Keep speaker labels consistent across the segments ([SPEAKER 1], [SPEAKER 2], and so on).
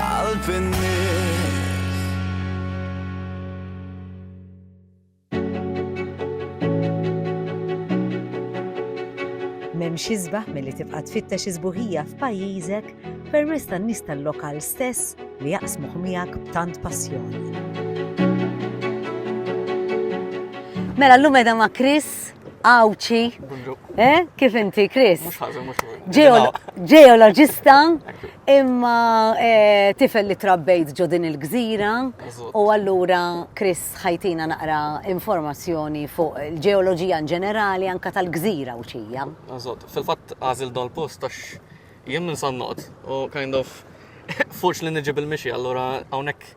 [SPEAKER 1] Qalb in-nies.
[SPEAKER 2] M'hemmx isbaħ milli tibqa' tfittex is-sbuħija f'pajjiżek permezz tan-nies tal-lokal stess li jaqsmuh miegħek b'tant passjoni. Mela llum edha ma' Chris Għawċi. Eh? Kif inti, Chris?
[SPEAKER 3] Ġeologista
[SPEAKER 2] Imma eh, tifel li trabbejt ġo din il-gżira u allura Chris ħajtina naqra informazzjoni fuq il-ġeoloġija in ġenerali anka tal-gżira u xija. Eżatt, fil-fatt
[SPEAKER 3] għażil dan post għax jien minn Sannot u kind of forċ li niġi bil-mixi, allura hawnhekk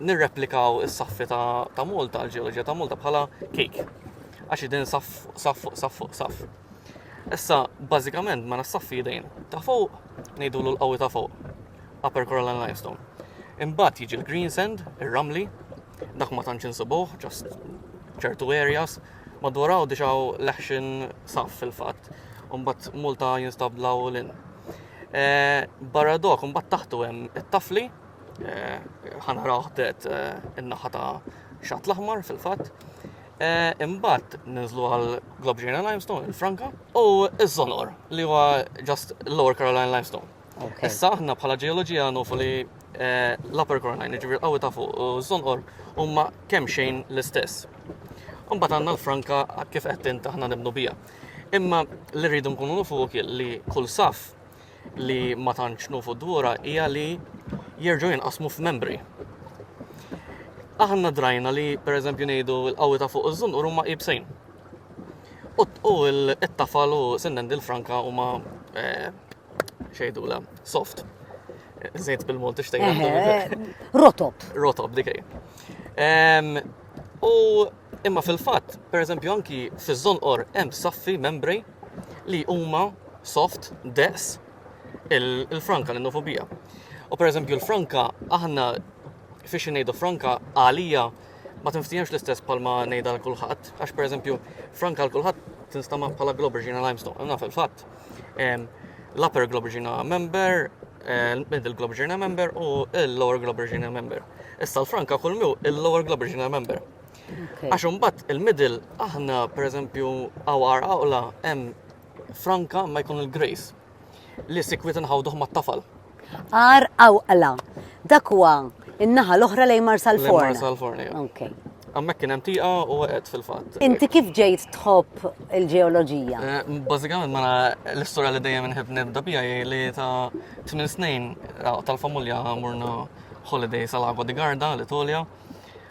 [SPEAKER 3] nirreplikaw is-saffi ta' Malta, l-ġeoloġija ta' Malta bħala kik. Għax id-din saff, saff, saff, saff. Issa, bażikament, mela s-saffi id-din. Ta' fuq, nejdu l-qawi ta' fuq. Upper Coral and Limestone. Imbagħad jiġi l-green sand, ir-ramli, dak ma tantx insibuh, ġast ċertu areas, madwar hawn dixaw leħxin saf fil-fatt, mbagħad multa jinstab law l-in. Eh, barra dok, mbagħad taħtu hemm it-tafli, eh, ħanaraw ħdet eh, in-naħa ta' xatt l-aħmar fil-fatt. Eh, imbagħad ninżlu għal Globe Ġejna Limestone, il-Franka, u iż-Zonor li huwa just Lower Caroline Limestone. Issa aħna bħala ġeoloġija nufu li eh, l-Upper Caroline, ġifier qawwi ta' fuq, u Zonor huma kemm xejn l-istess. Imbagħad għandna l-Franka kif qed int aħna nibnu bija. Imma li rridu nkunu nufu li kull saf li ma tantx nufu dwura hija li jerġgħu jinqasmu f'membri. Aħna drajna li pereżempju ngħidu l-qawwi ta' fuq iż-żunqur huma ibsejn. U t-tafal u sinnen dil-franka huma eh, xejdula soft. Zejt bil-Malti xtejn. Eh, eh, rotob. Rotob, dikej. U imma fil-fatt, pereżempju anki fiż-żonqor hemm saffi membri li huma soft daqs il-franka, l-innofobija. U per eżempju l-franka, aħna fiex ngħidu franka għalija ma tinftiex l-istess palma ngħidha l kulħadd, għax per eżempju franka l kulħadd tinstama bħala Globergina Limestone, naf il-fatt. L-upper Globergina member, middle Globergina member u l-lower Globergina member. Issa l-franka kull mew il-lower Globergina member. Għax imbagħad il-middle aħna pereżempju għawar għaqla hemm franka ma jkun il-grace li sikwit nħawduh mat-tafal. Għar
[SPEAKER 2] għawqla. Dak huwa in-naħa l-oħra lejn Marsal Forn. Marsal Forn, Okay.
[SPEAKER 3] Għammek kien hemm tiqa u għed fil-fatt. Inti kif ġejt
[SPEAKER 2] tħobb il-ġeoloġija? Eh, bażikament
[SPEAKER 3] ma l-istorja li dejjem inħib nibda bija li ta' tmien snin eh, tal-familja morna holiday sal-Agwa di Garda l-Itolja.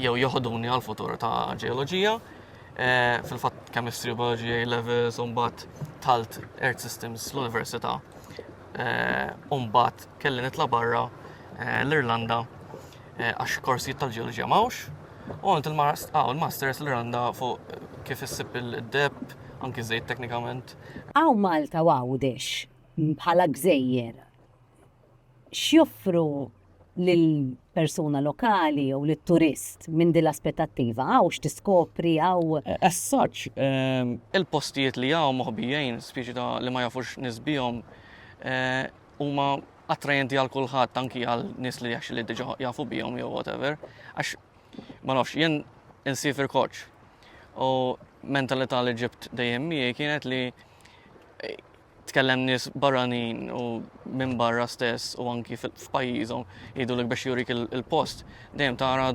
[SPEAKER 3] jew joħoduni għal futur ta' ġeoloġija. Eh, fil-fatt chemistry, biology, A levels, umbat talt Earth Systems l-Università. Eh, umbat kelli nitla barra eh, l-Irlanda għax korsijiet tal-ġeoloġija mawx. U għant ah, il-masters l-Irlanda fuq kif issib il-deb, anki zejt teknikament. Għaw Malta
[SPEAKER 4] u għawdex bħala gżejjer X'joffru lill-persuna lokali jew lit-turist minn din l-aspettattiva? Hawn x'tiskopri, hawn. As such,
[SPEAKER 3] il-postijiet li hawn moħbijin, spiċi ta' li ma jafux nies bihom, huma attrajenti għal kulħadd anki għal nies li actually diġà jafu bihom jew whatever. Għax ma nafx, jien insiefer koċċ u mentalità li ġibt dejjem miegħi kienet li Tkellem nies barranin u minn barra stess u anki f'pajjiżhom jgħidulek biex jurik il-post, dejjem tara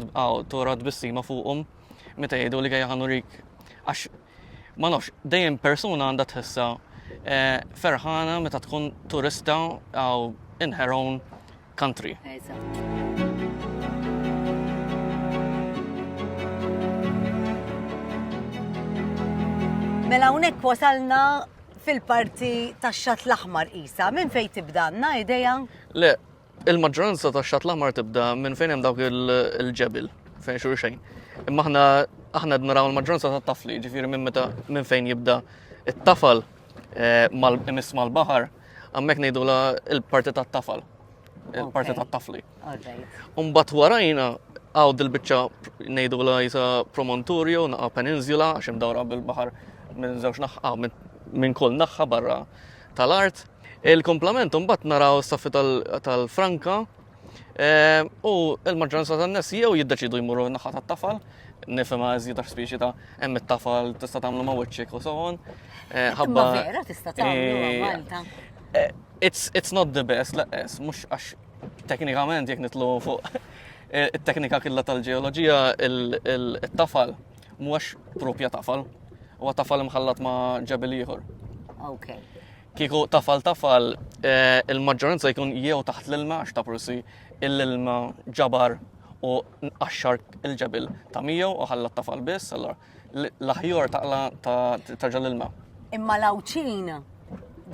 [SPEAKER 3] tora tbissima fuqhom meta jgħidu li għajja ħanurik. Għax ma nafx, dejjem persuna għandha tħissa eh, ferħana meta tkun turista għaw inħeron country.
[SPEAKER 4] Mela hawnhekk wasalna fil-parti tax-Xatt l-Aħmar qisha. Minn fejn tibda għandna idea? Le,
[SPEAKER 3] il-maġġoranza tax-Xatt l-Aħmar tibda minn fejn hemm dawk il-ġebel fejn xejn. Imma aħna aħna naraw il-maġġoranza tat-tafli, ġifieri minn meta minn fejn jibda it-tafal Eh, Imiss mal-baħar, għammek nejdu la il-parti ta' tafal, il-parti ta' tafli. Umbat warajna għaw dil-bicċa nejdu la jisa promontorio, naqa peninsula, għaxem dawra bil-bahar minn zewx naħħa, minn kull naħħa barra tal-art. Il-komplement umbat naraw s-saffi tal-Franka, Eh, u il-maġġoranza tan-nies jew jiddeċidu jmuru naħa tat-tafal, nifhimha iżjed għax speċi ta' hemm it-tafal tista' tagħmlu ma' wiċċek u sewon. Eh, ħabba vera
[SPEAKER 4] tista' tagħmlu eh, Malta. It's,
[SPEAKER 3] it's not the best, laqqes, mhux għax teknikament jekk nitlu fuq it-teknika killa tal-ġeoloġija il-tafal mhuwiex propja tafal, huwa tafal imħallat ma' ġebel ieħor. Okay.
[SPEAKER 4] Kieku
[SPEAKER 3] tafal tafal, il-maġġoranza jkun jew taħt l-ilma għax ta' prussi l-ilma ġabar u nqaxxar il-ġebil ta' miegħu u ħalla tafal biss, allora l-aħjor taqla ta' ġal ilma. Imma l-awċin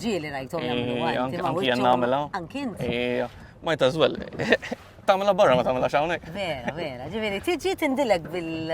[SPEAKER 4] ġieli rajtom jagħmlu għanti. Anki jien nagħmilha.
[SPEAKER 3] Anki int.
[SPEAKER 4] Ma jta' żwel.
[SPEAKER 3] Tagħmilha barra ma tagħmilha hawnhekk. Vera, vera. Ġifieri
[SPEAKER 4] tiġi tindilek bil.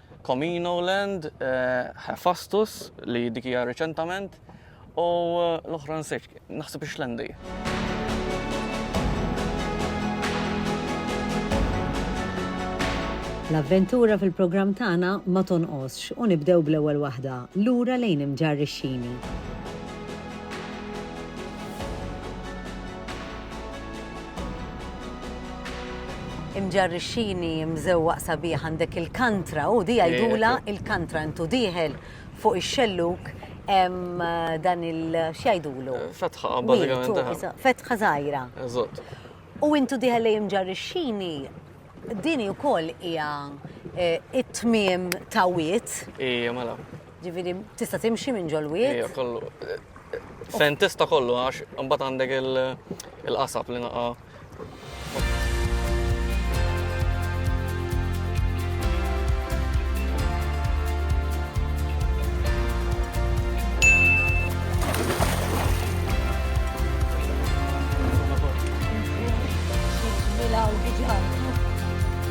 [SPEAKER 3] Comino Land, Hephaestus li dik hija riċentament u l-oħra nsejt, naħseb ix-Xlendi.
[SPEAKER 2] L-avventura fil-programm tagħna ma tonqosx u nibdew bl-ewwel waħda, lura lejn Imġarr ix-Xini.
[SPEAKER 4] Imġarrixxini, imżewwaq sabiħ għandek il-kantra, u di jgħidulha il-kantra intu dieħel fuq ix-xellug hemm dan il x'jgħidulu? Fetħa
[SPEAKER 3] bażikament. Fetħa żgħira.
[SPEAKER 4] Eżatt.
[SPEAKER 3] U intu
[SPEAKER 4] dieħel lejn imġarrixxini din ukoll hija it-tmiem ta' wied. Ija mela.
[SPEAKER 3] Ġifieri tista'
[SPEAKER 4] timxi minn ġol-wied? Ija, kollu.
[SPEAKER 3] Fejn tista' kollu għax imbagħad għandek il-qasab li naqa'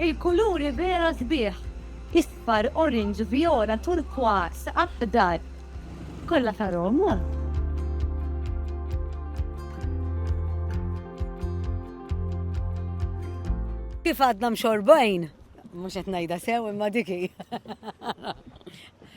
[SPEAKER 5] Il-kuluri vera sbieħ, isfar, orange, vjola, turkwas, aħdar, kollha ta' Roma.
[SPEAKER 4] Kif għadna mxorbajn, mhux qed ngħidha sew imma dik hi.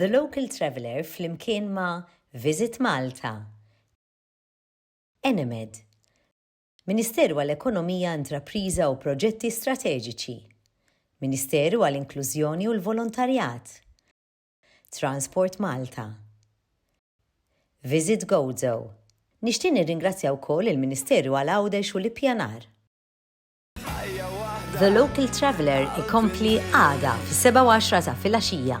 [SPEAKER 2] The Local Traveller flimkien ma' Visit Malta, Enemed, Ministeru għal Ekonomija, Intrapriża u Proġetti Strateġiċi, Ministeru għal Inklużjoni u l-Volontarjat, Transport Malta. Visit Gozo. Nixtieq nirringrazzja wkoll il-Ministeru għal Għawdex u l-Ippjanar. The Local Traveller ikompli għada fis-sebgħa u għaxra ta' filgħaxija.